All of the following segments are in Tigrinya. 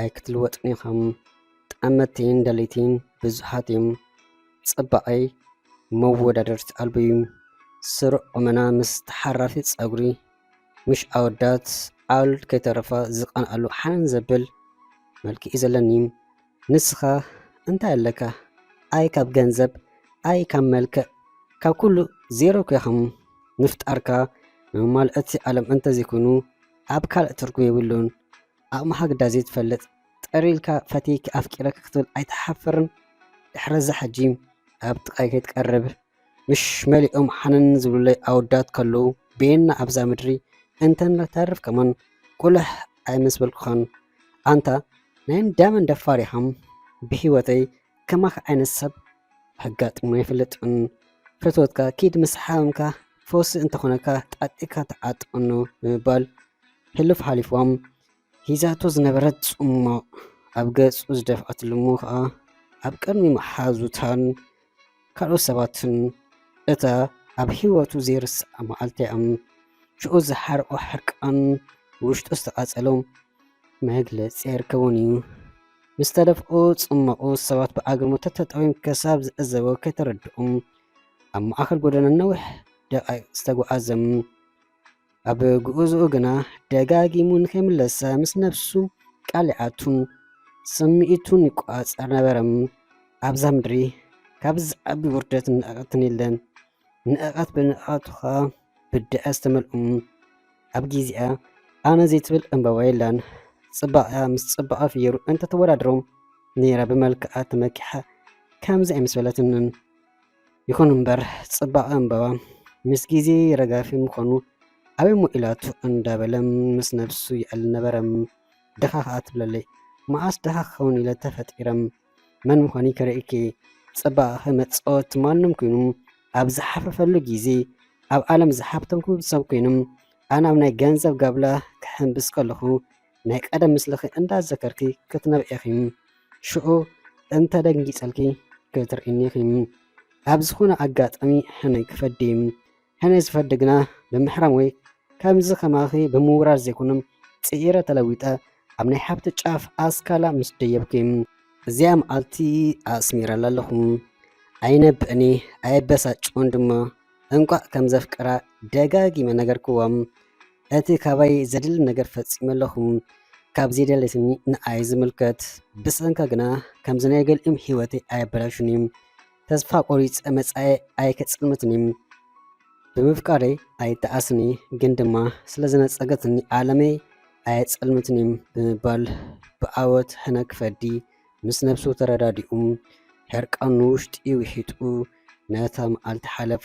ኣይክትልወጥን ኢኻም ጠመትቲን ደለይቲን ብዙሓት እዮም ጽባቐይ መወዳደርቲ ኣልቦ እዩ ስሩዕ ቁመና ምስ ተሓራፊ ጸጉሪ ምሽ ኣወዳት ዓል ከይተረፋ ዝቐንኣሉ ሓን ዘብል መልኪ እዩ ዘለኒ ንስኻ እንታይ ኣለካ ኣይ ካብ ገንዘብ ኣይ ካብ መልክዕ ካብ ኩሉ ዜሮ ኮይኸም ምፍጣርካ መማልእቲ ዓለም እንተዘይኮይኑ ኣብ ካልእ ትርጉም የብሉን ኣቅምካ ግዳ ዘይትፈልጥ ጥር ኢልካ ፈትየኪ ኣፍቂረኪ ክትብል ኣይትሓፍርን ድሕረዛ ሕጂ ኣብ ጥቃይ ከይትቀርብ ምሽ መሊኦም ሓንን ዝብሉለይ ኣወዳት ከለዉ በየና ኣብዛ ምድሪ እንተን ለተርፍ ከማን ቁልሕ ኣይመሰበልኩካን ኣንታ ናይ እንዳመን ደፋር ኢካ ብሂወተይ ከማኺ ዓይነት ሰብ ኣጋጢሙ ኣይፍለጥን ፈትወትካ ኪድ ምስ ሓመምካ ፈውሲ እንተኾነካ ጣጢካ ተዓጠኑ ብምባል ሕሉፍ ሓሊፎም ሂዛቶ ዝነበረት ጽሟቕ ኣብ ገጹ ዝደፍኣትሉ እሞ ከኣ ኣብ ቅድሚ መሓዙታን ካልኦት ሰባትን እታ ኣብ ህይወቱ ዘይርስዓ መዓልቲ እም ሽዑ ዝሓርቆ ሕርቃን ውሽጡ ዝተቓጸሎም መግለጺ ኣይርከቦን እዩ። ምስ ተደፍኡ ጽመቑ ሰባት ብኣግርሞ ተተጠውዮም ከሳብ ዝዕዘቦ ከይተረድኡ ኣብ ማእከል ጎደና ነዊሕ ደቓይቕ ዝተጓዓዘ ኣብ ጉዕዝኡ ግና ደጋጊሙ ንኸይምለሰ ምስ ነብሱ ቃል ይኣቱ ስምዒቱን ይቆጻጸር ነበረ። ኣብዛ ምድሪ ካብዚ ዝዓቢ ውርደትን ንዕቀትን የለን። ንዕቐት ብንዕቐቱ ኸኣ ብድዐ ዝተመልኡ ኣብ ግዜኣ ኣነ ዘይትብል ዕምበባ የላን ጽባቐኣ ምስ ጽባቐ ፍየሩ እንተተወዳድሮ ነይራ ብመልክዓ ተመኪሓ ከምዚ ኣይምስበለትንን ይኹን እምበር ጽባቐ ዕምበባ ምስ ግዜ ረጋፊ ምዃኑ ኣበይ እሞ ኢላቱ እንዳበለ ምስ ነብሱ ይዕልል ነበረ ድኻ ኸኣ ትብለለይ መዓስ ድኻ ክኸውን ኢለ ተፈጢረ መን ምዃንይ ከርእይኪ ጽባቐኺ መጻወቲ ማንም ኩይኑ ኣብ ዝሓፈፈሉ ግዜ ኣብ ዓለም ዝሓብተምኩ ሰብ ኮይኖም ኣነ ኣብ ናይ ገንዘብ ጋብላ ክሕምብስ ከለኹ ናይ ቀደም ምስልኺ እንዳዘከርኪ ክትነብዒ ኢኺ ሽዑ እንተደንጊጸልኪ ክትርእይኒ ኢኺ ኣብ ዝኾነ ኣጋጣሚ ሕነ ክፈዲ ሕነ ዝፈዲ ግና ብምሕራም ወይ ከምዚ ከማኺ ብምውራር ዘይኮነም ጽዒረ ተለዊጠ ኣብ ናይ ሓብቲ ጫፍ ኣስካላ ምስ ደየብኪ። እዚኣ መዓልቲ ኣስሚረላ ኣለኹ። ኣይነብዕን'የ ኣየበሳጭዎን ድማ። እንቋዕ ከም ዘፍቀራ ደጋጊመ ነገርክዋ። እቲ ካባይ ዘድሊ ነገር ፈጺመ ኣለኹ። ካብ ዘይደለየትኒ ንዓይ ዝምልከት። ብሰንካ ግና ከምዚ ናይ ገሊኦም ህይወተይ ኣየበላሹን'የ። ተስፋ ቆሪፀ መፃኤ ኣይክፅልምትኒ ብምፍቃረይ ኣይተኣስኒ ግን ድማ ስለዝነፀገትኒ ዓለመይ ኣየፀልምትኒ ብምባል ብዓወት ሕነክ ፈዲ ምስ ነብሱ ተረዳዲኡ ሕርቃኑ ንውሽጢ ውሒጡ ነታ መዓልቲ ሓለፋ።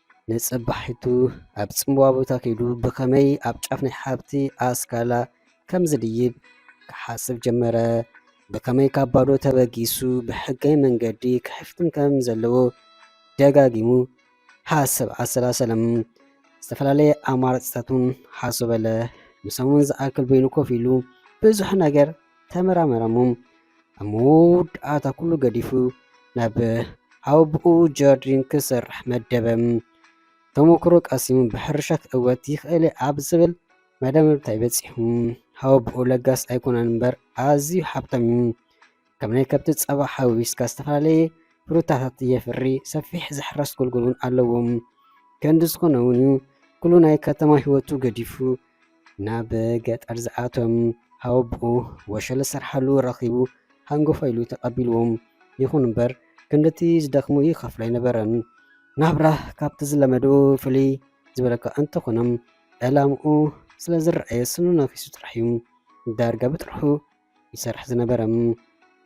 ንጽባሒቱ ኣብ ጽምዋ ቦታ ከይዱ ብኸመይ ኣብ ጫፍ ናይ ሓብቲ ኣስካላ ከም ዝድይብ ክሓስብ ጀመረ። ብኸመይ ካብ ባዶ ተበጊሱ ብሕጋዊ መንገዲ ክሕፍትም ከም ዘለዎ ደጋጊሙ ሓሰብ ኣሰላሰለም። ዝተፈላለየ ኣማራጺታት እውን ሓሶበለ። ንሰሙን ዝኣክል በይኑ ኮፍ ኢሉ ብዙሕ ነገር ተመራመረ እሞ ኣብ መወዳእታ ኩሉ ገዲፉ ናብ ኣቡኡ ጀርዲን ክሰርሕ መደበ። ተመኩሮ ቀሲሙ ብሕርሻት እወት ይኽእል ኣብ ዝብል መደምደምታ ይበጽሑ። ኣቡኡ ለጋስ ኣይኮነን እምበር ኣዝዩ ሃብታም እዩ። ከም ናይ ከብቲ ጸባ ሓዊስካ ዝተፈላለየ ፍሩታታት የፍሪ፣ ሰፊሕ ዝሕረስ ጎልጎል እውን ኣለዎም። ክንዲ ዝኾነ እውን ኩሉ ናይ ከተማ ህይወቱ ገዲፉ ናብ ገጠር ዝኣቶም ሃወብኡ ወሸለ ዝሰርሓሉ ረኺቡ ሃንጎፋ ኢሉ ተቐቢልዎም ይኹን እምበር ክንድቲ ዝደኽሙ ይኸፍሎ ኣይነበረን። ናብራ ካብቲ ዝለመዱ ፍልይ ዝበለካ እንተኾኖም ዕላምኡ ስለ ዝረኣየ ስኑ ነኺሱ ጥራሕ እዩ ዳርጋ ብጥርሑ ይሰርሕ ዝነበረ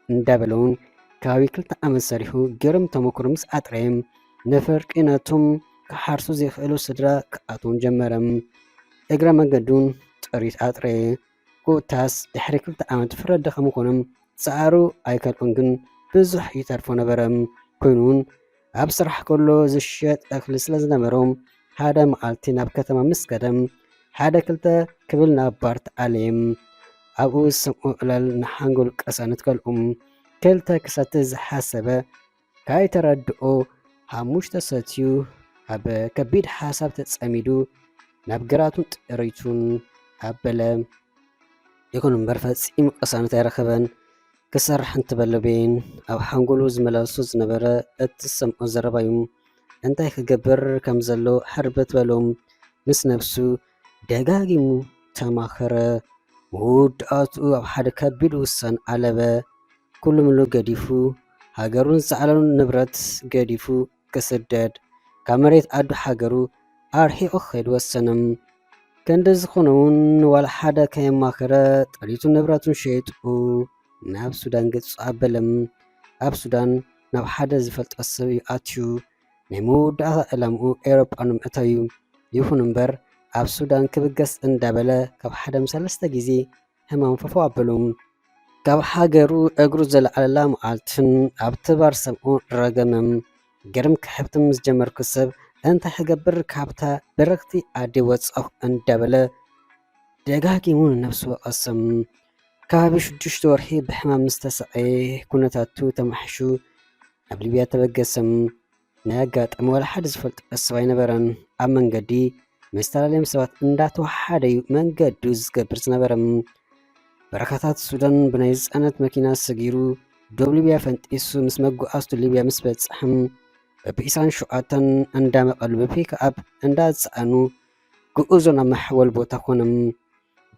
እንዳበለውን ከባቢ ክልተ ዓመት ሰሪሑ ገርም ተመክሮ ምስ ኣጥረየ ነፈርቂ ነቶም ክሓርሱ ዘይክእሉ ስድራ ክኣትዎም ጀመረ። እግረ መገዱን ጥሪት ኣጥረየ። ኮታስ ድሕሪ ክልተ ዓመት ፍረ ደኸሙ ኮኖም ጻዕሩ ኣይከልኦን ግን ብዙሕ ይተርፎ ነበረ። ኮይኑ እውን ኣብ ስራሕ ከሎ ዝሸጥ እኽሊ ስለ ዝነበሮ ሓደ መዓልቲ ናብ ከተማ ምስ ከደ ሓደ ክልተ ክብል ናብ ባር ተኣልየም ኣብኡ ዝሰምዑ ዕለል ንሓንጎል ቀሰኑት ከልኡ ክልተ ክሰቲ ዝሓሰበ ካይተረድኦ ሓሙሽተ ሰትዩ ኣብ ከቢድ ሓሳብ ተጸሚዱ ናብ ግራቱን ጥሪቱን ኣበለ ይኹን እምበር ፈጺሙ ቀሳኑት ኣይረኸበን ክሰርሕ እንተበለ ቤን ኣብ ሓንጎሉ ዝመላለሶ ዝነበረ እቲ ዝሰምዖ ዘረባ እዩ። እንታይ ክገብር ከም ዘሎ ሕርብት በሎ። ምስ ነብሱ ደጋጊሙ ተማኸረ። መወዳእትኡ ኣብ ሓደ ከቢድ ውሳን ኣለበ። ኩሉ ምሉ ገዲፉ ሃገሩን ዝዓለሉን ንብረት ገዲፉ ክስደድ ካብ መሬት ኣዱ ሓገሩ ኣርሒቁ ክከድ ወሰነ ከንዲ ዝኮነ ውን ንዋላ ሓደ ከየማከረ ጥሪቱን ንብረቱን ሸይጡ ናብ ሱዳን ገጹ ኣበለ ኣብ ሱዳን ናብ ሓደ ዝፈልጦ ሰብ ዩ ኣትዩ ናይ መወዳእታ ዕላምኡ ኤሮጳ ንምእታው ዩ ይኩን እምበር ኣብ ሱዳን ክብገስ እንዳበለ ካብ ሓደ ሰለስተ ግዜ ሕማም ፈፎ ኣብሉ ካብ ሃገሩ እግሩ ዘልዓለላ መዓልትን ኣብ ተባር ሰምዑ ረገምም ግርም ክሕብትም ዝጀመርኩ ሰብ እንታይ ሕገብር ካብታ በረኽቲ ኣዲ ወጸኹ እንዳበለ ደጋጊሙ ነፍሱ ወቐስም ከባቢ ሽዱሽተ ወርሒ ብሕማም ምስተሰቐየ ኩነታቱ ተማሕሹ ኣብ ሊብያ ተበገሰም ናይ ኣጋጣሚ ዋላ ሓደ ዝፈልጦ ሰብ ኣይነበረን። ኣብ መንገዲ ምስ ተላለዮም ሰባት እንዳተወሓሓደ እዩ መንገዱ ዝገብር ዝነበረ። በረኻታት ሱዳን ብናይ ዝፃነት መኪና ሰጊሩ ዶብ ሊብያ ፈንጢሱ ምስ መጓዓዝቱ ሊብያ ምስ በፅሐም በብኢሳን ሸውዓተን እንዳመቐሉ በፒክኣፕ እንዳፀዓኑ ግኡዞ ናብ መሐወል ቦታ ኮነም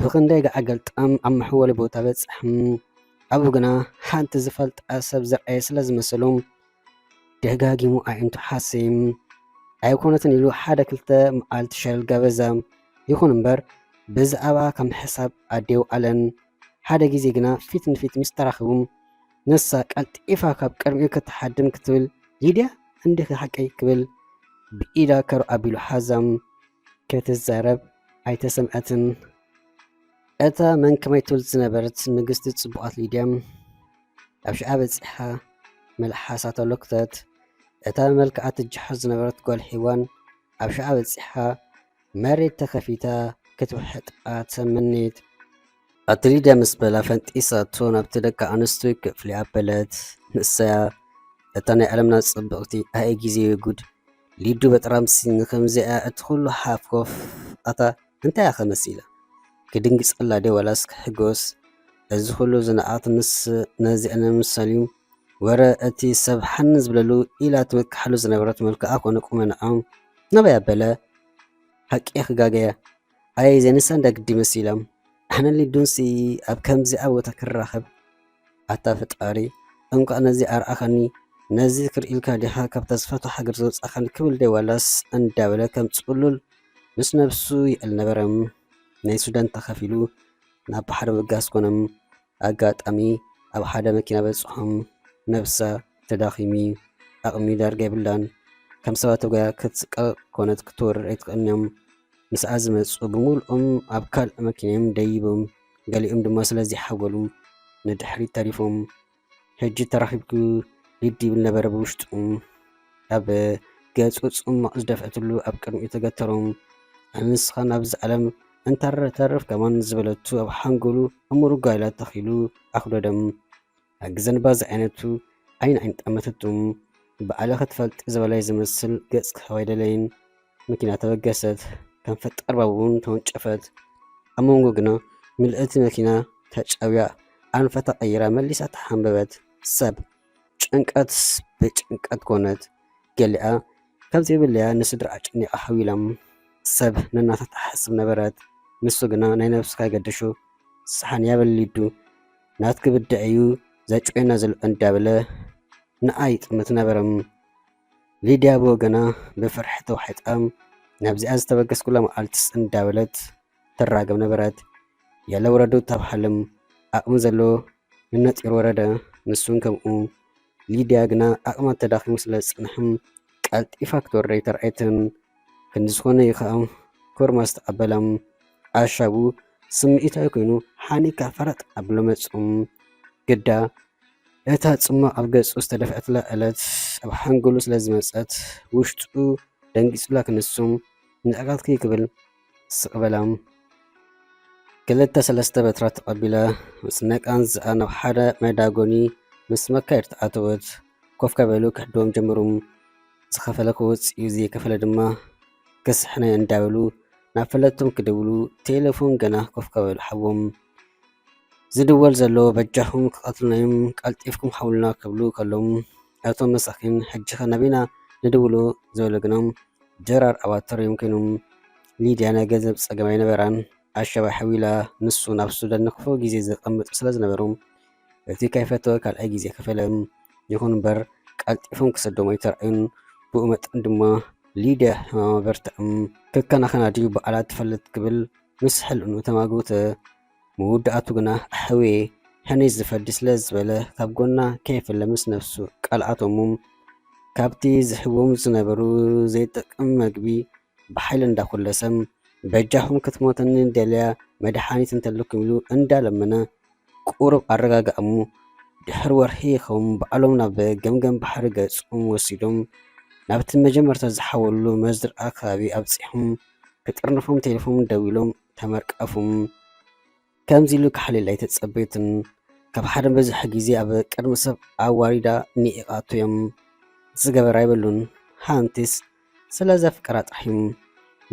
ብክንደይ ገዓገልጣም ኣብ መሐወሊ ቦታ በፅሐም ኣብኡ ግና ሓንቲ ዝፈልጣ ሰብ ዝረኣየ ስለ ዝመሰሎም ደጋጊሙ ኣዒንቱ ሓሲም ኣይኮነትን ኢሉ ሓደ ክልተ መዓልቲ ሸለል ገበዘ። ይኹን እምበር ብዛዕባ ከም ሕሳብ ኣዴው ኣለን። ሓደ ግዜ ግና ፊት ንፊት ምስ ተራኺቡ ንሳ ቀልጢፋ ካብ ቅድሚኡ ክትሓድም ክትብል ሊድያ እንዲኺ ሓቀይ ክብል ብኢዳ ከሩ ኣቢሉ ሓዛ። ክትዛረብ ኣይተሰምዐትን። እታ መንከማይ ትብል ዝነበረት ንግስቲ ጽቡቓት ሊድያ ኣብ ሽዓ በጺሓ መልሓሳ ተሎክተት፣ እታ ብመልክዓ ትጀሓር ዝነበረት ጓል ሒዋን ኣብ ሽዓ በጺሓ መሬት ተኸፊታ ክትውሕጣ ተመነየት። ኣቲ ሊድያ ምስ በላ ፈንጢሳቶ ናብቲ ደቂ ኣንስትዮ ክፍሊ ኣበለት። ንሳያ እታ ናይ ዓለምና ጽብቕቲ ኣየ ግዜ ጉድ ሊዱ በጥራምሲ ንከምዚኣ እቲ ኩሉ ሓፍኮፍ ኣታ እንታይ ኢኸ መሲለ? ክድንግጸላ ድየ ዋላስ ክሕጎስ? እዚ ኹሉ ዝንኣድ ምስ ነዚ ዕነ ምሰልዩ ወረ እቲ ሰብ ሓን ዝብለሉ ኢላ ትምክሓሉ ዝነበረት መልክዓ ኮነ ቁመንዖም ናበይ ኣበለ? ሓቂ ክጋገየ? ኣየ ዘይንሳን ዳግዲ መሲሎም? ኣነ ሊዱንሲ ኣብ ከምዚኣ ቦታ ክንራኸብ? ኣታ ፈጣሪ እንቋዕ ነዚ ኣርኣኻኒ ነዚ ክርኢልካ ዲኻ ካብ ተስፋቱ ሃገር ዘውጻኻኒ ክብል ደ ዋላስ እንዳበለ ከም ጽሉል ምስ ነብሱ ይእል ነበረም ናይ ሱዳን ተኸፊሉ ናብ ባሕሪ ምብጋስ ኮነም ኣጋጣሚ ኣብ ሓደ መኪና በጽሖም ነብሳ ተዳኺሚ ኣቕሚ ዳርጋ የብላን ከም ሰባት ተጓያ ክትስቀቕ ኮነት ክትወርድ ኣይትኽእልንዮም ምስኣ ዝመጹ ብምሉኦም ኣብ ካልእ መኪናዮም ደይቦም ገሊኦም ድማ ስለ ዘይሓጎሉ ንድሕሪት ተሪፎም ሕጂ ተራኺብኪ ሊድ ይብል ነበረ ብውሽጡ ኣብ ገጹ ጽማቕ ዝደፍዐትሉ ኣብ ቅድሚኡ ተገተሮም ኣንስኻ ናብዚ ዓለም እንታረ ተርፍ ከማን ዝበለቱ ኣብ ሓንጎሉ እሙር ጓይላ ተኺሉ ኣኽደዶም ኣግዘንባ ዝዓይነቱ ዓይን ዓይን ጠመተቱ። ባዕለ ክትፈልጥ ዝበላይ ዝመስል ገጽ ክህባ ኣይደለይን። መኪና ተበገሰት። ከም ፈጣር ባቡን ተወንጨፈት። ኣብ መንጎ ግና ምልእቲ መኪና ተጨውያ ኣንፈታ ቀይራ መሊሳ ተሓንበበት። ሰብ ጭንቀት ብጭንቀት ኮነት። ገሊኣ ካብ ዘይብለያ ንስድራ ኣጨኒቃ ሓዊላም። ሰብ ነናታ ትሓስብ ነበረት። ንሱ ግና ናይ ነብሱ ካይገደሾ ስሓን ያበል ሊዱ። ናትኪ ብድዐ እዩ ዘጭውየና ዘሎ እንዳበለ ንዓ ይጥምት ነበረ። ሊድያ ብወገና ብፍርሒ ተዋሒጣ ናብዚኣ ዝተበገስኩላ መዓልትስ እንዳበለት ትራገም ነበረት። የለ ውረዱ ተብሃልም ኣቕሚ ዘሎ ንነጢሩ ወረደ ንሱን ከምኡ። ሊድያ ግና ዓቕማ ተዳኺሙ ስለ ዝጸንሐ ቀልጢፋ ክትወርድ ኣይተራእየትን። ክንዲ ዝኾነ እዩ ከኣ ኮርማ ዝተቐበላ። ኣሻቡ ስምዒታዊ ኮይኑ ሓኒካ ፈረጥ ኣብሎ መጹ። ግዳ እታ ጽማቕ ኣብ ገጹ ዝተደፍዐትላ ዕለት ኣብ ሓንጎሉ ስለ ዝመጸት ውሽጡ ደንጊጹላ ክንሱ ንዕቀትኪ ክብል ስቕ በለ። ክልተ ሰለስተ በትራት ተቐቢለ ምስ ነቃንዝኣ ናብ ሓደ መዳጎኒ ምስ መካየድቲ ኣተወት። ኮፍ ከበሉ ክሕድዎም ጀመሩ። ዝኸፈለ ክወጽእ እዩ ዘይከፈለ ድማ ክስሕነ እንዳበሉ ናብ ፈለጥቶም ክደውሉ ቴለፎን ገና ኮፍ ከበሉ ሓቦም። ዝድወል ዘሎ በጃኹም ክቀትሉናዮም ቀልጢፍኩም ሓውሉና ክብሉ ከለው እቶም መሳኪን ሕጂኸ ናበይ ኢና ንድውሎ ዝበሉ ግና ድራር ኣባት ተርእዮም ኮይኖም ሊድያ ናይ ገንዘብ ፀገም ኣይነበራን ኣሸባ ሓዊላ ንሱ ናብ ሱዳን ንክፉእ ግዜ ዘቀምጥ ስለዝነበሩ እቲ ከይፈተወ ካልኣይ ግዜ ከፈለ ይኹን እምበር ቀልጢፎም ክሰዶም ኣይተራእዩን ብኡ መጠን ድማ ሊድያ ሕማማ በርትዕም ክከናኸና ድዩ በዓላ ትፈልጥ ክብል ምስ ሕልሙ ተማጎተ። መወዳእቱ ግና ኣሕዌ ሕኔ ዝፈዲ ስለ ዝበለ ካብ ጎና ከይፈለ ምስ ነፍሱ ቃል ኣቶሙም። ካብቲ ዝህቦም ዝነበሩ ዘይጠቅም መግቢ ብሓይሊ እንዳኹለሰም በጃኹም ክትሞተኒ ደልያ መድሓኒት እንተለኩም ኢሉ እንዳለመነ ቁሩብ ኣረጋግኣ እሞ ድሕሪ ወርሒ ይኸውን ባዕሎም ናብ ገምገም ባሕሪ ገፆም ወሲዶም ናብቲ መጀመርታ ዝሓወልሉ መዝርኣ ከባቢ ኣብፂሖም ክጥርንፎም ቴሌፎን ደዊሎም ተመርቀፉም ከምዚ ኢሉ ክሓልል ኣይተፀበዩትን ካብ ሓደ በዝሒ ግዜ ኣብ ቅድሚ ሰብ ኣዋሪዳ ኒዒቓቶ እዮም ዝገበር ኣይበሉን ሓንቲስ ስለ ዘፍቀራ ጥሒን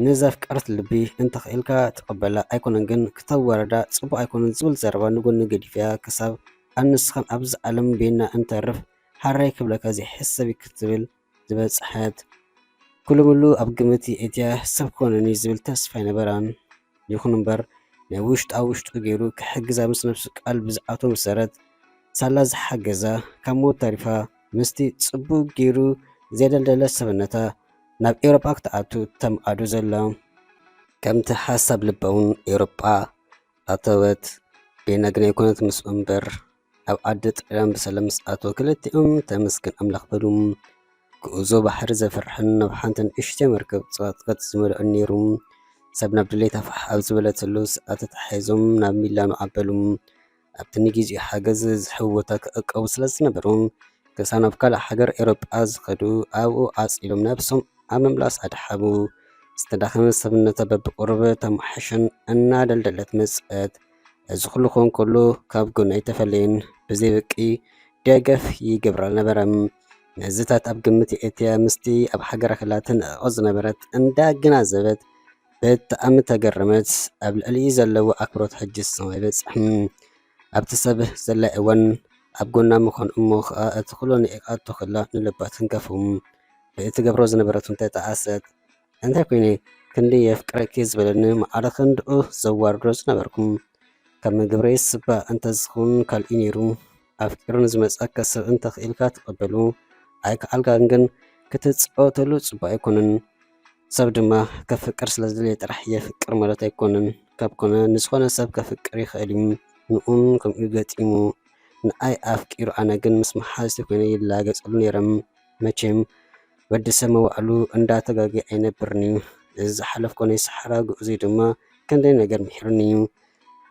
ንዘፍቀረት ልቢ እንተኽኢልካ ትቀበላ ኣይኮነን ግን ክተዋርዳ ጽቡቅ ኣይኮነን ዝብል ዘረባ ንጎኒ ገዲፈያ ክሳብ ኣንስኻን ኣብዛ ዓለም በይንና እንተርፍ ሃረይ ክብለካ ዘይሕሰብ እዩ ክትብል ዝበጽሐት ኩሉምሉ ኣብ ግምት የእትያ ሰብ ክኮነኒ ዝብል ተስፋ ኣይነበራን። ይኹን እምበር ናይ ውሽጣ ውሽጡ ገይሩ ክሕግዛ ምስ ነብሱ ቃል ብዝኣትዎ መሰረት ሳላ ዝሓገዛ ካብ ሞት ተሪፋ ምስቲ ጽቡቕ ገይሩ ዘደልደለ ሰብነታ ናብ ኤውሮጳ ክትኣቱ ተምኣዱ ዘሎ። ከምቲ ሓሳብ ልባ'ውን ኤውሮጳ ኣተወት። ቤና ግና ኣይኮነትን ምስኡ እምበር ኣብ ዓዲ ጥልያን ብሰላም ምስ ኣተወ ክልቲኦም ተመስገን ኣምላኽ በሉ። ግኡዞ ባሕሪ ዘፍርሕን ናብ ሓንቲ ንእሽተይ መርከብ ጸቕጥቅጥ ዝመልኦን ነይሩ። ሰብ ናብ ድሌታ ፋሕ ኣብ ዝበለትሉ ሰዓት ተተሓሒዞም ናብ ሚላኖ ኣበሉ። ኣብቲ ንጊዜኡ ሓገዝ ዝህብ ቦታ ክዕቀቡ ስለ ዝነበሮም ክሳብ ናብ ካልእ ሃገር ኤውሮጳ ዝኸዱ ኣብኡ ዓጽዮም ነብሶም ኣብ ምምላስ ኣድሓቡ። ዝተዳኸመ ሰብነታ በብቑሩብ ተማሕሸን እናደልደለት መጸት። እዚ ኩሉ ክኸውን ከሎ ካብ ጎኑ ኣይተፈለየን ብዘይ በቂ ደገፍ ይገብር ኣልነበረን። ነዚታት ኣብ ግምት የእትያ ምስቲ ኣብ ሃገራ ከላ ትንዕቆ ዝነበረት እንዳገናዘበት ብጣዕሚ ተገረመት። ኣብ ልዕሊኡ ዘለዎ ኣክብሮት ሕጂ ሰማይ በጽሕም። ኣብቲ ሰብ ዘላይ እዋን ኣብ ጎና ምዃን እሞ ከኣ እቲ ኩሉ ንዒቃቶ ከላ ንልባ ተንከፉ። ብእትገብሮ ዝነበረት ውን ተጣዓሰት። እንታይ ኮይነ ክንዲ የፍቅረኪ ዝበለኒ ማኣረ ክንድኡ ዘዋርዶ ዝነበርኩ ከም ግብረይ ስባ እንተዝከውን ካልእዩ ነይሩ ኣፍቂሩ ንዝመፀካ ሰብ እንተክኢልካ ተቀበሉ ኣይካኣልካን ግን ክትፃወተሉ ፅቡቅ ኣይኮነን ሰብ ድማ ከፍቅር ስለዝደለየ ጥራሕ የፍቅር ማለት ኣይኮነን ካብ ኮነ ንዝኮነ ሰብ ከፍቅር ይክእል እዩ ንኡን ከምኡ ገጢሙ ንኣይ ኣፍቂሩ ኣነ ግን ምስ ማሓዝተይ ኮይነ ይላገፀሉ ነይረ መቸም ወዲ ሰብ መዋእሉ እንዳ ተጋግየ ኣይነብርን'ዩ፣ እዚ ዝሓለፍኩዎ ናይ ሰሓራ ጉዕዞይ ድማ ክንደይ ነገር ምሒሩኒ'ዩ፣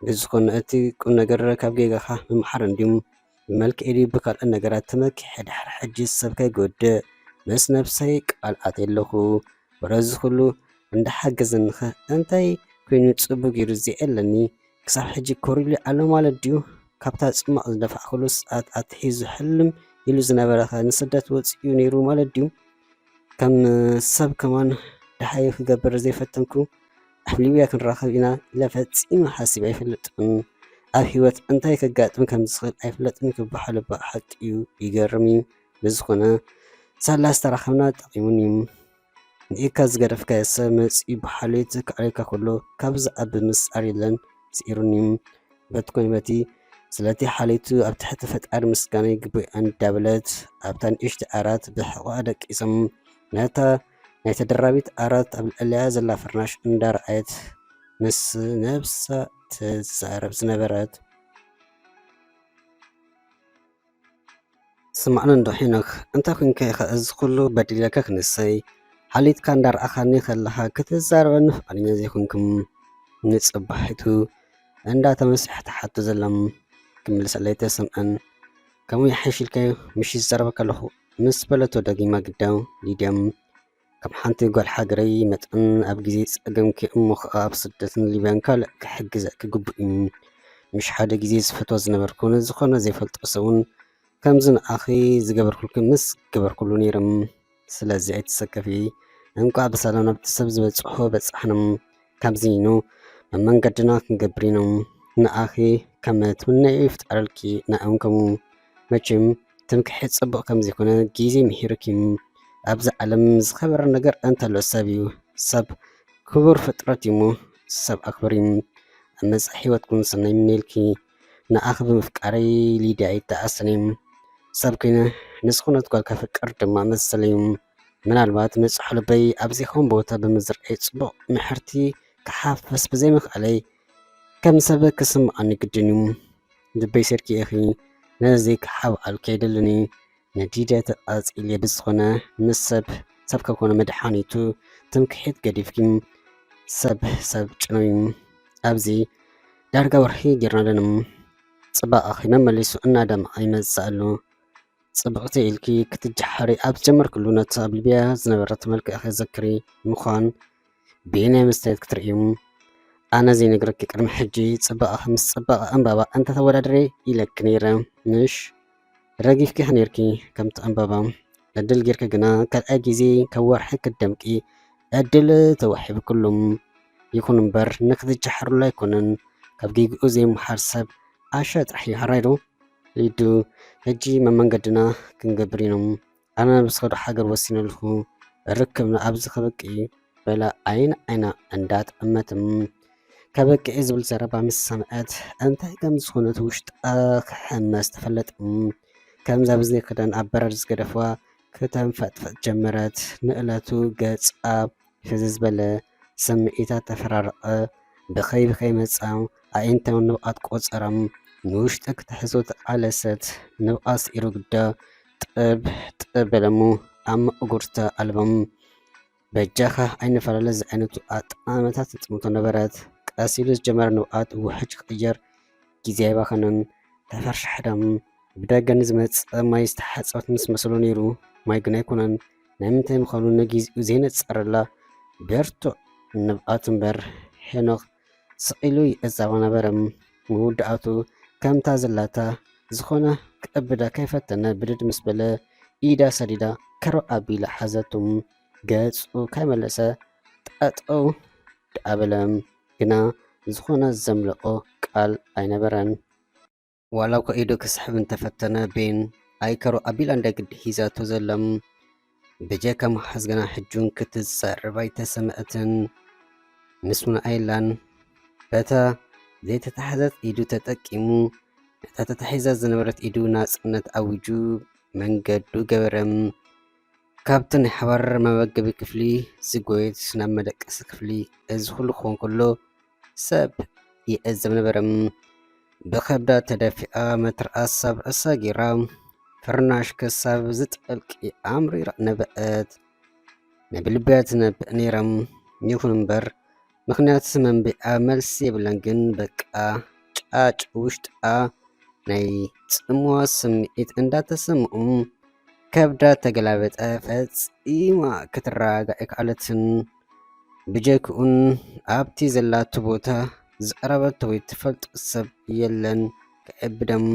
ብዝኾነ እቲ ቁምነገር ካብ ጌጋኻ ምምሓር እንድዩ፣ ብመልክዔ ድዩ ብካልእ ነገራት ተመኪሐ ድሕሪ ሕጂስ ሰብ ከይጎድእ ምስ ነብሰይ ቃል ኣትየ'ለኹ፣ ወረ እዚ ኹሉ እንዳሓገዘኒኸ እንታይ ኮይኑ ጽቡቕ ጌሩ ዘየ'ለኒ፣ ክሳብ ሕጂ ኮሪሉ ኣሎ ማለት ድዩ? ካብታ ጽማቕ ዝደፋእክሉ ሰዓት ኣትሒዙ ሕልም ኢሉ ዝነበረኸ ንስደት ወጺኡ ነይሩ ማለት ድዩ? ከም ሰብ ከማን ደሃዩ ክገብር ዘይፈተንኩ ኣብ ሊብያ ክንራኸብ ኢና ኢለ ፈጺመ ሓሲበ ኣይፈልጥን። ኣብ ህይወት እንታይ ከጋጥም ከም ዝኽእል ኣይፍለጥን ክበሃል እባ ሓቂ'ዩ ይገርም'ዩ። ብዝኾነ ሳላ ዝተራኸብና ጠቒሙኒ። ንኢድካ ዝገደፍካዮ ሰብ መጺኡ ብሓልዮት ከዕርየካ ከሎ ካብዚ ዝዓቢ ምስጢር የለን። ስዒሩኒ'ዩ በቲ ኮነ በቲ ስለቲ ሓልዮቱ ኣብ ትሕቲ ፈጣሪ ምስጋና ይግብኦ እንዳበለት ኣብታ ንእሽቶ ዓራት ብሕቖኣ ደቂሶም ነታ ናይ ተደራቢት ዓራት ኣብ ልዕሊኣ ዘላ ፍርናሽ እንዳርኣየት ምስ ነብሳ ትዛረብ ዝነበረት ስማዕኒ እንዶ ሄኖክ እንታይ ኮንካ ኢኻ እዚ ኩሉ በዲለካ ክንሰይ ሓሊትካ እንዳርኣኻኒ ከለኻ ክትዛረበኒ ፍቓደኛ ዘይኮንኩም ንጽባሒቱ እንዳ ተመስርሐ ትሓቱ ዘሎም ክምልሰለይ ተሰምዐን ከምኡ ይሓይሽ ኢልካዮ ምሽ ዝዛረበካ ኣለኹ ምስ በለቶ ደጊማ ግዳ ሊድያም ከም ሓንቲ ጓል ሃገረይ መጠን ኣብ ግዜ ጸገምኪ እሞ ኸኣ ኣብ ስደትን ሊብያን ካልእ ክሕግዘኪ ግቡእ እዩ። ምሽ ሓደ ግዜ ዝፈትዎ ዝነበርኩ ንዝኾነ ዘይፈልጦ ሰብ እውን ከምዚ ንዓኺ ዝገበርኩልኪ ምስ ገበርኩሉ ነይረ። ስለዚ ኣይትሰከፊ። እንቋዕ ብሰላም ናብቲ ሰብ ዝበጽሖ በጻሕና። ካብዚ ኑ መመንገድና ክንገብር ኢና። ንዓኺ ከም ትምነይዮ ይፍጠረልኪ ንዕኦም ከምኡ። መቸም ትምክሕቲ ጽቡቕ ከም ዘይኮነ ግዜ ምሒሩኪ። ኣብዚ ዓለም ዝኸበረ ነገር እንተሎ ሰብ እዩ። ሰብ ክቡር ፍጥረት እዩሞ ሰብ ኣኽብሪ። ኣብ መጻኢ ህይወትኩም ሰናይ ይምነየልኪ። ንዓኺ ብምፍቃረይ ሊድያ ይተዓሰኒ። ሰብ ኮይነ ንዝኾነት ጓል ከፍቅር ድማ መሰለ እዩ። ምናልባት ንጹሕ ልበይ ኣብ ዘይከውን ቦታ ብምዝርኣይ ጽቡቕ ምሕርቲ ክሓፍስ ብዘይምኽኣለይ ከም ሰብ ክስምዓኒ ግድን እዩ ልበይ ሴርኪ ኢኺ ነዚ ዘይክሓብኣል ከይደልን እዩ ነዲደ ተቓጺለ ብዝኾነ ምስ ሰብ ሰብ ከኮነ መድሓኒቱ ትምክሒት ገዲፍኪ ሰብ ሰብ ጭነዩ ኣብዚ ዳርጋ ወርሒ ጌርና ኣለና ጽባቐኺ መመሊሱ እናደምዓ ይመጽእ ኣሎ ጽብቕቲ ኢልኪ ክትጀሓሪ ኣብ ዝጀመርክሉ ነቲ ኣብ ሊብያ ዝነበረት መልክዕኺ ዘክሪ ምዃን ብየናይ መስትያት ክትርእዩ ኣነ ዘይነግረኪ ቅድሚ ሕጂ ጽባቐኺ ምስ ጽባቐ ዕምባባ እንተተወዳድሬ ኢለኪ ነይረ ምሽ ረጊፍኪ ነርኪ ከምቲ ዕምባባ ዕድል ጌርኪ ግና ካልኣይ ግዜ ካብ ወርሒ ክትደምቂ ዕድል ተዋሒብክሉም ይኹን እምበር ንክትጀሓሩሉ ኣይኮነን ካብ ጌግኡ ዘይምሓር ሰብ ኣሸ ጥራሕ ይሃራይዶ ሊዱ ሕጂ መመንገድና ክንገብር ኢኖም ኣነ ብስኸዶ ሓገር ወሲነልኹ ርክብና ኣብዚ ከበቂ በላ ዓይን ዓይና እንዳት እመትም ከበቂ ዝብል ዘረባ ምስ ሰምዐት እንታይ ከም ዝኾነት ውሽጣ ክሕመስ ተፈለጥ ከምዛ ብዘይ ክዳን ኣብ በረድ ዝገደፍዋ ክተንፈጥፈጥ ጀመረት ንእለቱ ገጻ ሕዝዝ በለ ስምዒታት ተፈራረቐ፣ ብኸይ ብኸይ መጻ፣ ኣዒንታዊ ንብቓት ቆጸራ፣ ንውሽጠ ክትሕዞ ተቓለሰት፣ ንብቓት ስዒሩ ግዳ ጥብ ጥብ በለ'ሞ ኣብ መቐጉርታ ኣልቦም። በጃኻ ኣይንፈላለ ዝዓይነቱ ኣጠማምታ ትጥምቶ ነበረት። ቀስ ኢሉ ዝጀመረ ንብቓት ውሕጅ ክቕየር ግዜ ኣይባኸነን። ተፈርሻሕዳም ብደገ ንዝመጸ ማይ ዝተሓጸበት ምስ መሰሎ ነይሩ፣ ማይ ግን ኣይኮነን። ናይ ምንታይ ምዃኑ ነጊዝኡ ዘይነጸረላ ብርቱዕ ንብዓት እምበር፣ ሄኖክ ስቕ ኢሉ ይዕዘባ ነበረ። መወዳእቱ ከምታ ዘላታ ዝኾነ ክዕብዳ ከይፈተነ ብድድ ምስ በለ፣ ኢዳ ሰዲዳ ከርብ ኣቢላ ሓዘቱ። ገጹ ከይመለሰ ጠጠው ደኣ በለ። ግና ዝኾነ ዘምለቖ ቃል ኣይነበረን። ዋላ እኳ ኢዱ ክስሕብ እንተፈተነ ቤን ኣይከሩ ኣቢላ እንዳ ግዲ ሒዛቶ ዘላም ብጀካ መሓዝ ግና ሕጁን ክትዛረብ ኣይተሰምዐትን። ምስ ውን ኣይላን በታ ዘይተታሕዘት ኢዱ ተጠቂሙ ነታ ተታሒዛ ዝነበረት ኢዱ ናጽነት ኣዊጁ መንገዱ ገበረም። ካብቲ ናይ ሓባር መመገቢ ክፍሊ ዝጎየት ናብ መደቀሲ ክፍሊ እዚ ኩሉ ክኾን ከሎ ሰብ ይዕዘብ ነበረ። ብኸብዳ ተደፊኣ መትርኣስ ሰብዒ ሰጊራ ፍርናሽ ክሳብ ዝጠልቂ ኣምሪራ ነበዐት። ነብልብያ ትነብዕ ነይራ። ይኹን እምበር ምኽንያት መንብዒኣ መልሲ የብላን። ግን በቃ ጫጭ ውሽጣ ናይ ጽምዋ ስምዒት እንዳተሰምኡ ከብዳ ተገላበጠ። ፈጺማ ክትረጋጋዕ ኣይከኣለትን። ብጀክኡን ኣብቲ ዘላቶ ቦታ ዝቐረበቶ ወይ ትፈልጦ ሰብ የለን ክዕብደም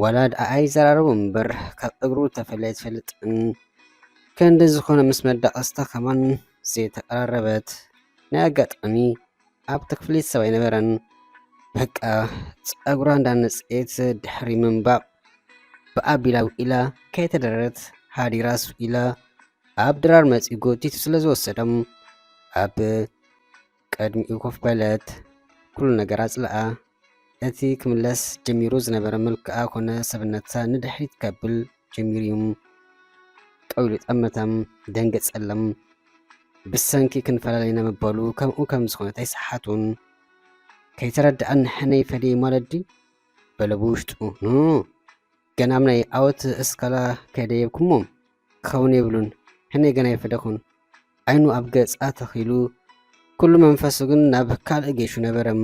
ዋላ ድኣ ኣይዘራረቡ እምበር ካብ እግሩ ተፈልያ ኣይትፈልጥን ከንዲ ዝኾነ ምስ መዳቐስታ ከማን ዘይተቐራረበት ናይ ኣጋጣሚ ኣብቲ ክፍሊት ሰብ ኣይነበረን በቃ ፀጉራ እንዳነፀየት ድሕሪ ምንባቕ ብኣቢላ ውኢላ ከይተደረረት ሃዲራስ ውኢላ ኣብ ድራር መጺኡ ጎቲቱ ስለ ዝወሰዶም ኣብ ቅድሚኡ ኮፍ በለት። ኩሉ ነገር ኣጽልኣ። እቲ ክምለስ ጀሚሩ ዝነበረ መልክዓ ኮነ ሰብነታ ንድሕሪት ከብል ጀሚሩ ጠው ኢሉ ጠመተም፣ ደንገጸሎም። ብሰንኪ ክንፈላለ ኢና ምባሉ ከምኡ ከም ዝኾነት ኣይሰሓቱን። ከይተረድኣን ንሕነይ ፈደይ ማለት ድዩ? በለ ብውሽጡ። ን ገናም ናይ ኣወት እስካላ ከይደየብኩሞም ክኸውን የብሉን ሕነይ ገና ይፈደኹን ዓይኑ ኣብ ገጻ ተኺሉ ኩሉ መንፈሱ ግን ናብ ካልእ ጌሹ ነበረም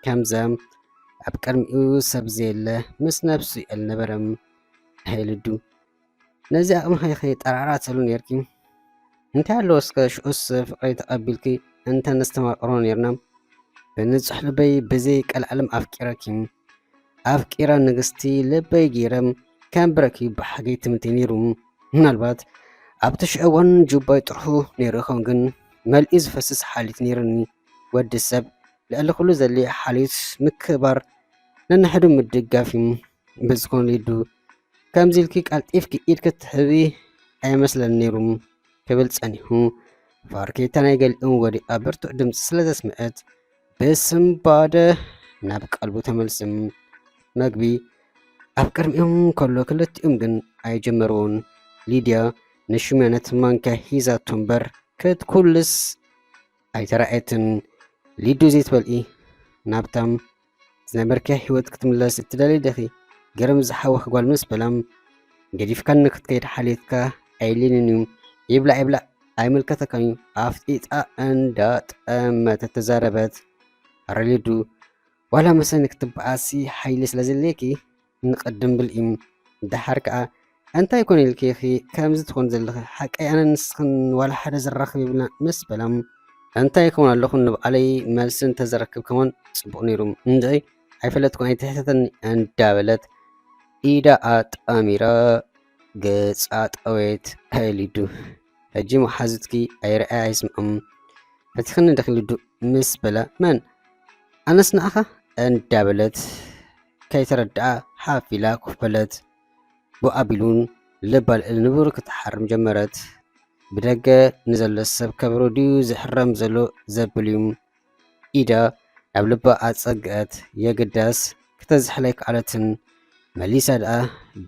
ከምዘም ኣብ ቅድሚኡ ሰብ ዘየለ ምስ ነብሱ የል ነበረም ሃይልዱ ነዚ ኣቕምኸ ከይጠራዕራተሉ ነርኪ እንታይ ኣለዎ እስከ ሽዑስ ፍቅረይ ተቀቢልኪ እንተ ነስተማቅሮ ኔርና ብንጹሕ ልበይ ብዘይ ቀልዓለም ኣፍቂረኪ ኣፍቂረ ንግስቲ ልበይ ገይረ ከንብረኪ ብሓገይ ትምንተይ ኔሩ ምናልባት ኣብቲ ሽዑ እዋን ጁባይ ጥርሑ ኔሩ ይኸውን ግን መልዩ ዝፈስስ ሓልዮት ኔርኒ ወዲ ሰብ ልዕሊ ኩሉ ዘድልዮ ሓልዮት ምክብባር ነንሕዱ ምድጋፍ እዩ ብዝኾነ ሊዱ ከምዚ ኢልኪ ቀልጢፍኪ ኢድኪ ትሕቢ ኣይመስለንን ነይሩ ክብል ጸኒሑ። ፋርኬታ ናይ ገሊኦም ወዲኣ ብርቱዕ ድምጺ ስለ ዘስምዐት ብስምባደ ናብ ቀልቡ ተመልስም መግቢ ኣብ ቅድሚኦም ከሎ ክልቲኦም ግን ኣይጀመርዎን። ሊድያ ንሹመነት ማንኪያ ሂዛቶ እምበር ክትኩልስ ኣይተራእየትን። ሊዱ ዘይትበልኢ ናብታም ዝነበርካዮ ህይወት ክትምለስ እትደሊ ዲኺ? ገረም ዝሓወኽ ጓል ምስ በላም ገዲፍካኒ ክትከይድ ሓልዮትካ ኣየድልየንን እዩ፣ ይብላዕ ይብላዕ ኣይምልከተካን እዩ፣ ኣፍ ጢጣ እንዳጠመተት ተዛረበት። ኣረ ሊዱ ዋላ መሰኒ ክትበኣሲ ሓይሊ ስለዘድልየኪ ንቀድም ብልኢም ደሓር ከኣ ኣንታይ ኮን ኢልኪ ኢኺ ከምዚ ትኾኒ ዘለኺ ሓቀይ ኣነን ንስኽን ዋላ ሓደ ዘራኽብ የብልና ምስ በላም ኣንታይ ክውን ኣለኹ ንብዓለይ መልሲ እንተዘረክብ ከሞን ጽቡቕ ነይሩ እንድዒ ኣይፈለጥኩን ኣይትሕተተኒ እንዳበለት ኢዳ ኣጣሚራ ገጻ ጠወየት ከሊዱ ሕጂ መሓዙትኪ ኣይርኣያ ኣይስምዖም ፈቲኽኒ ድኺ ልዱ ምስ በለ መን ኣነስ ንኣኻ እንዳበለት ከይተረድኣ ሓፍ ኢላ ኮፍ በለት። ብኡ ኣቢሉን ልባ ልዕሊ ንቡር ክትሓርም ጀመረት። ብደገ ንዘሎ ሰብ ከብሩ ድዩ ዝሕረም ዘሎ ዘብል እዩ። ኢደ ናብ ልባ ኣጸግዐት የግዳስ ክተዝሕል ኣይከኣለትን። መሊሳ ደኣ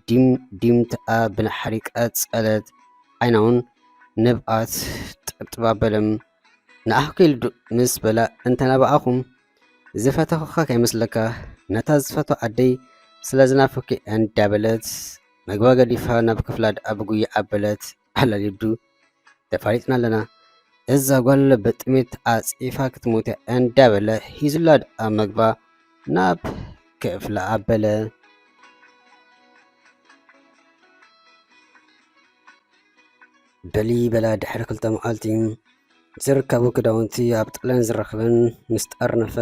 ዲም ዲም ተኣ ብናሕሪ ቀጸለት። ዓይናውን ንብኣት ጠብጠብ ኣበለም። ንኣኹኪ ልዱ ምስ በላ እንተናበኣኹም ዝፈተኹኻ ከይመስለካ ነታ ዝፈቶ ኣደይ ስለ ዝናፈኩ እንዳበለት መግባ ገዲፋ ናብ ክፍላ ደኣ ብጉያ ኣበለት። ኣላ ሊዱ ተፋሊጥና ኣለና እዛ ጓል ብጥሜት ኣጽፋ ክትሞት እንዳ በለ ሂዙላ ድኣ መግባ ናብ ክፍላ ኣበለ በሊ በላ ድሕሪ ክልተ መዓልቲ ዝርከቡ ክዳውንቲ ኣብ ጣልያን ዝረኽበን ምስ ጠርነፈ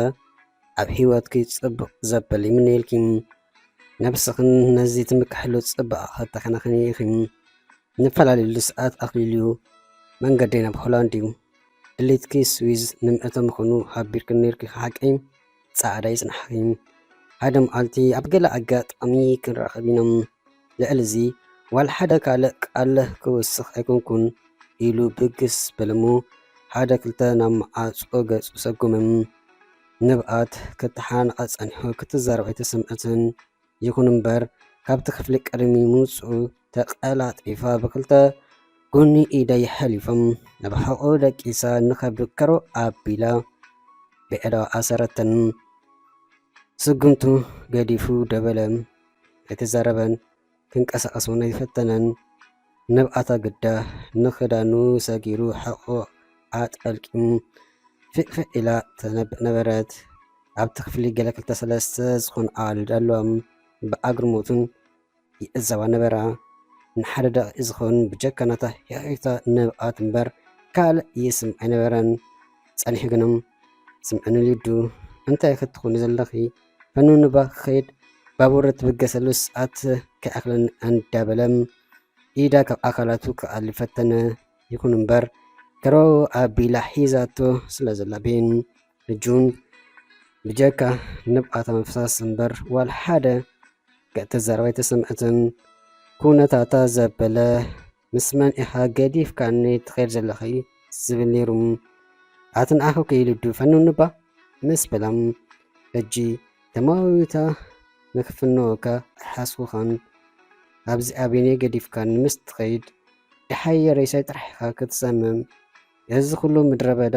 ኣብ ህይወትኪ ጽቡቕ ዘበል ይምነየልኪ ነብስኽን ነዚ ትምክሕሉ ጽባቐ ከተከናኽኒ ኢኺ። ንፈላለዩሉ ሰዓት ኣኽሊሉ መንገደይ ናብ ሆላንድ እዩ። ድሌትኪ ስዊዝ ንምእቶ ምዃኑ ሓቢርክን ነይርኪ ሓቂ? ጻዕዳ ይጽናሕኺ። ሓደ መዓልቲ ኣብ ገለ ኣጋጣሚ ክንራኸብ ኢና። ልዕሊ እዚ ዋላ ሓደ ካልእ ቃል ክውስኽ ኣይኮንኩን ኢሉ ብግስ በለ'ሞ ሓደ ክልተ ናብ መዓጾ ገጹ ሰጎመ። ንብኣት ክተሓናነቐ ጸኒሑ ክትዛረብ ኣይተሰምዐትን። ይኹን እምበር ካብቲ ክፍሊ ቅድሚ ምውጽኡ ተቐላጢፋ ብክልተ ጎኒ ኢዳ የሐሊፎም ናብ ሕቖኡ ደቂሳ ንኸብዱ ከረው ኣቢላ ብዒዳዋ ኣሰረተን። ስጉምቱ ገዲፉ ደበለ። ኣይተዛረበን። ክንቀሳቐስ እውን ኣይፈተነን። ንብዓታ ግዳ ንኽዳኑ ሰጊሩ ሕቖኡ ኣጠልቂሙ ፊዕፊዕ ኢላ ተነብዕ ነበረት። ኣብቲ ክፍሊ ገለ ክልተ ሰለስተ ዝኾኑ ኣዋልድ ኣለዋም ብኣግርሞትን ይዕዘባ ነበራ። ንሓደ ደቒቕ ዝኸውን ብጀካ ናታ ሂሒታ ንብዓት እምበር ካልእ ይስምዕ ኣይነበረን። ጸኒሑ ግንም ስምዕኒ ሊዱ እንታይ ክትኾኒ ዘለኺ ፈኑንባ ክኸይድ ባቡር እትብገሰሉ ሰዓት ከይኣኽለን ኣንዳበለም ኢዳ ካብ ኣካላቱ ክኣሊ ፈተነ። ይኹን እምበር ከረው ኣቢላ ሒዛቶ ስለ ዘላ ቤን እጁን ብጀካ ንብዓታ ምፍሳስ እምበር ዋላ ሓደ ገእተዛረባ ኣይተሰምዐትን። ኩነታታ ዘበለ ምስ መን ኢኻ ገዲፍካኒ ትኸይድ ዘለኺ ዝብል ነይሩ ኣትንዓኺ ክኢሉ ድፈንኑባ ምስ በላም ሕጂ ተመዊታ ንክፍንወካ ኣይሓስቡኻን ኣብዚ ኣበይነይ ገዲፍካኒ ምስ ትኸይድ ደሓይ ሬሳይ ጥራሕ ኢኻ ክትሰምም እዚ ኩሉ ምድረበዳ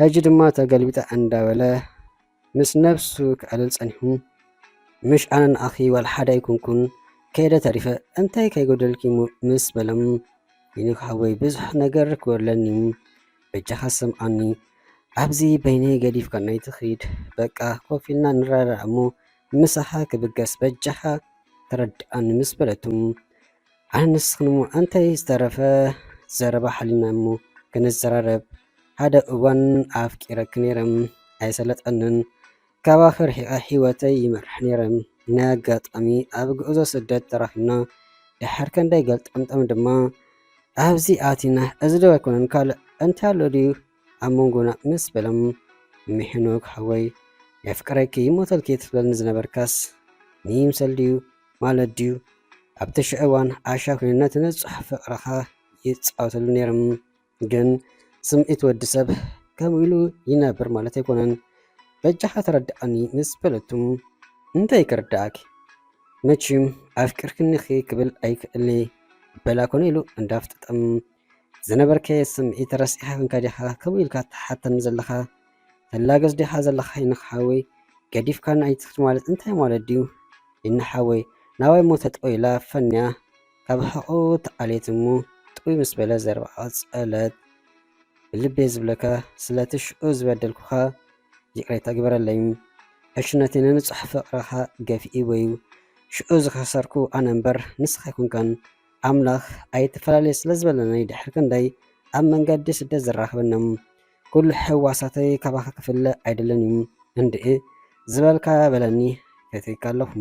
ሕጂ ድማ ተገልቢጠ ኣንዳበለ ምስ ነብሱ ክዕልል ጸኒሑ ምሽ ኣነ ንኣኺ ዋላ ሓደ ኣይኮንኩን ከይደ ተሪፈ እንታይ ከይጎደልኪ ምስ በሎም ሄኖክ ሓወይ ብዙሕ ነገር ክጎድለኒዩ በጃኻ ሰምዓኒ ኣብዚ በይነይ ገዲፍካናይ ትኺድ በቃ ኮፍ ኢልና ንረዳዳእ እሞ ምሳኻ ክብገስ በጃኻ ተረድኣኒ ምስ በለቱ ኣነ ንስኽን እሞ ኣንታይ ዝተረፈ ዘረባ ሓሊና እሞ ክንዘራረብ ሓደ እዋን ኣፍቂረኪ ነይረ ኣይሰለጠንን ካባኺ ርሒቐ ሂወተይ ይመርሕ ነይረ ናይ ኣጋጣሚ ኣብ ጉዕዞ ስደት ተራኺብና ድሓር ከንደይ ገልጠምጠም ድማ ኣብዚ ኣቲና እዚ ዶ ኣይኮነን ካልእ እንታይ ኣሎ ድዩ ኣብ መንጎና ምስ በሎም እም ሄኖክ ሓወይ የፍቅረኪ ይሞተልኪ ትብለኒ ዝነበርካስ ንይምሰል ድዩ ማለት ድዩ ኣብቲ ሽዑ እዋን ዓሻ ኮይኑ ነቲ ንጹሕ ፍቅርኻ ይጻወተሉ ነይሮም ግን ስምዒት ወዲ ሰብ ከምኡ ኢሉ ይነብር ማለት ኣይኮነን በጃኻ ተረድኣኒ ምስ በለቱ እንታይ ክርድኣኪ መቺም ኣፍቅርክኒኺ ክብል ኣይክእልይ በላ ኮነ ኢሉ እንዳፍጠጠም ዝነበርከየ ስምዒት ረሲዕካ ክንከ ዲኻ ከምኡ ኢልካ ትሓተኒ ዘለኻ ተላገጽ ዲኻ ዘለኻ ይንኽ ሓወይ ገዲፍካና ኣይትኽድ ማለት እንታይ ማለት ድዩ ይንኽ ሓወይ ናባይ እሞ ተጠው ኢላ ፈንያ ካብ ሕቑኡ ተዓልየት እሞ ጥውይ ምስ በለ ዘረባኣ ቀጸለት ብልቤ ዝብለካ ስለቲ ሽዑ ዝበደልኩኻ ይቅሬታ ግበረለይ ዕሽነተይ ንንጹሕ ፍቅርኻ ገፊእዎ እዩ ሽዑ ዝኸሰርኩ ኣነ እምበር ንስኻ ኣይኮንካን ኣምላኽ ኣይትፈላለዩ ስለ ዝበለኒ ድሕሪ ክንደይ ኣብ መንገዲ ስደት ዘራኽበኒ ኩሉ ሕዋሳተይ ካባኻ ክፍለ ኣይደልን እዩ እንድዒ ዝበልካ በለኒ ፈትየካ ኣለኹ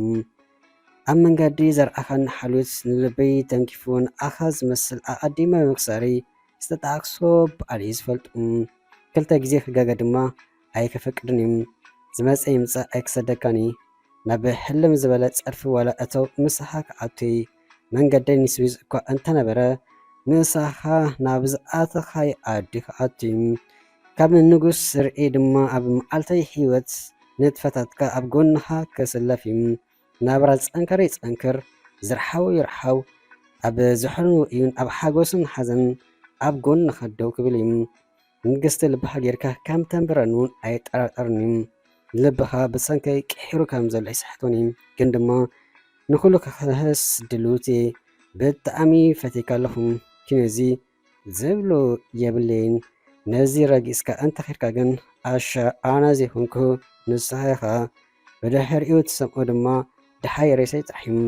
ኣብ መንገዲ ዘርኣኻን ሓልዮት ንልበይ ተንኪፉ ንኣኻ ዝመስል ኣቐዲመ ብምክሳረይ ዝተጣዕክሶ በዓል እዩ ዝፈልጡ ክልተ ግዜ ክጋገ ድማ ኣይከፈቅድን እዩ ዝመጸ ይምጻእ ኣይክሰደካን እየ ናብ ሕልም ዝበለ ጸርፊ ዋላ እተው ምሳኻ ክኣቱይ መንገደይ ንስዊዝ እኳ እንተነበረ ምሳኻ ናብ ዝኣተኻይ ኣዲ ክኣቱይ ካብ ንጉስ ስርዒ ድማ ኣብ መዓልተይ ህይወት ንጥፈታትካ ኣብ ጎንኻ ክስለፍ እዩ ናብራ ዝጸንከረ ይጸንክር ዝርሓው ይርሓው ኣብ ዝሕርን ውእዩን ኣብ ሓጎስን ሓዘን ኣብ ጎንኻ ደው ክብል እዩ ንግስቲ ልብኻ ጌርካ ከም ተንብረኒ ውን ኣይጠራጠርን ዩ ልብኻ ብሰንከይ ቂሒሩ ከም ዘሎ ኣይስሕቶን ዩ ግን ድማ ንኹሉ ክክህስ ድልውት እየ ብጣዕሚ ፈትየካ ኣለኹ ኪኖ እዚ ዝብሎ የብለይን ነዚ ረጊጽካ እንተ ኬድካ ግን ኣሻ ኣነ ዘይኮንኩ ንስኻ ኢኻ ብድሕሪኡ ትሰምኦ ድማ ድሓይ ሬሰይ ጻሒም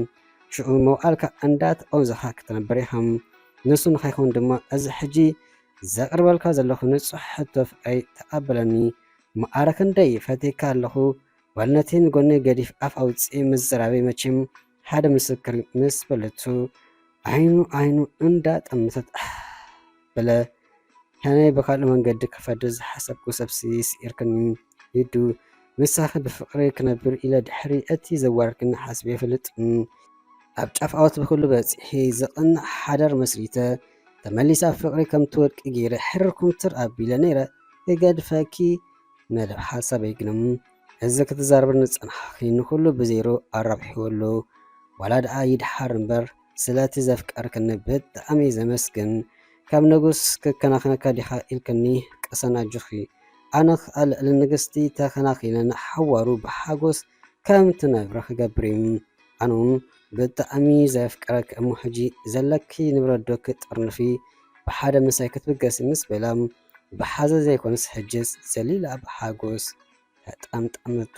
ሽኡ መውዓልካ እንዳ ተቐንዘኻ ክትነብር ኢኻ ንሱ ንኸይከውን ድማ እዚ ሕጂ ዘቅርበልካ ዘለኩ ንጹሕ ሕቶ ፍቅረይ ተቀበለኒ መኣረ ክንደይ ፈትየካ ኣለኩ በል ነቲ ንጎኒ ገዲፍ ኣፍ ኣውጺ ምዝራበይ መቼም ሓደ ምስክር ምስ በለቱ ዓይኑ ዓይኑ እንዳ ጠመተት ኣሕ በለ ሕነይ ብካልእ መንገዲ ክፈድር ዝሓሰብኩ ሰብሲ ሲዒርክኒ ሊዱ ምሳኪ ብፍቅሪ ክነብር ኢለ ድሕሪ እቲ ዘዋረድክኒ ሓስበ ኣይፈልጥን ኣብ ጫፍ ኣወት ብኩሉ በጺሒ ዘቅንዕ ሓዳር መስሪተ ተመሊሰ ኣብ ፍቅሪ ከም ትወድቂ ገይረ ሕርር ኩምትር ኣቢለ ነይረ ክገድፈኪ መደብ ሓሳበይ ግን እም እዚ ክትዛረብኒ ዝጸናሕኪ ንኩሉ ብዜሮ ኣራብሒዎ ኣሎ ዋላ ደኣ ይድሓር እምበር ስለቲ ዘፍቀርክኒ ብጣዕሚ ዘመስግን ከም ንጉስ ክከናክነካ ዲካ ኢልክኒ ቅሰን ኣጆኪ ኣነክ ኣልዕሊ ንግስቲ ተከናኪነ ንሓዋሩ ብሓጎስ ከም ትነብሪ ክገብር ዩ ኣነ ውን ብጣዕሚ ዘፍቅረኪ እሞ ሕጂ ዘለኪ ንብረት ዶ ክትጥርንፊ ብሓደ ምሳይ ክትብገሲ ምስ በላ ብሓዘን ዘይኮነስ ሕጅስ ዘሊላ ብሓጎስ ተጠምጠመቶ።